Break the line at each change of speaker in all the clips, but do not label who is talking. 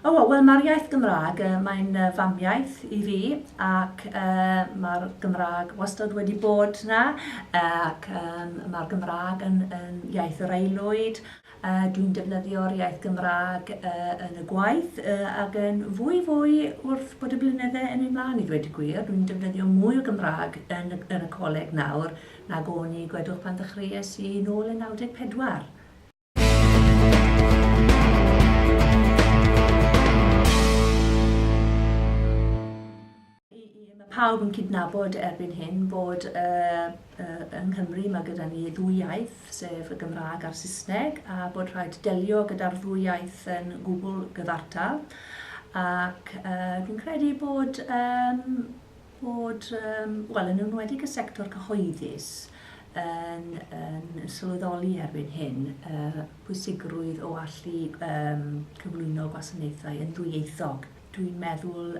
O, wel mae'r iaith Gymraeg, mae'n famiaith i fi ac mae'r Gymraeg wastad wedi bod 'na ac mae'r Gymraeg yn iaith yr aelwyd. Dwi'n defnyddio'r iaith Gymraeg yn y gwaith ac yn fwy fwy wrth bod y blynyddau yn mynd 'mlaen i ddweud y gwir. Dwi'n defnyddio mwy o Gymraeg yn y coleg nawr nag o'n i, gwedwch, pan ddechreuais i nôl yn 94. pawb yn cydnabod erbyn hyn bod uh, uh, yng Nghymru mae gyda ni ddwy iaith, sef y Gymraeg a'r Saesneg, a bod rhaid delio gyda'r ddwy iaith yn gwbl gyfartal. Ac uh, fi'n credu bod um, bod, wel, yn enwedig y sector cyhoeddus yn sylweddoli erbyn hyn y pwysigrwydd o allu cyflwyno gwasanaethau yn ddwyieithog. Dwi'n meddwl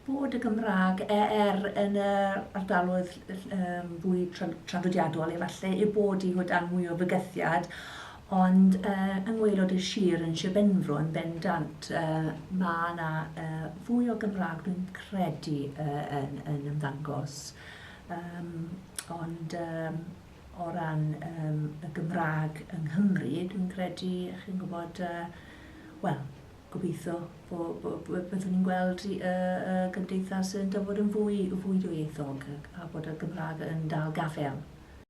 bod y Gymraeg, er yn yr ardaloedd fwy traddodiadol efallai, ei bod hi o dan mwy o fygythiad, Ond yng ngwaelod y sir yn Sir Benfro yn bendant mae 'na fwy o Gymraeg dwi'n credu yn ymddangos yym ond yym o ran yym y Gymraeg yng Nghymru dwi'n credu chi'n gwybod yy wel gobeithio bo' bo' bo' byddwn ni'n gweld yy y gymdeithas yn dod yn fwy fwy dwyieithog a bod y Gymraeg yn dal gafael.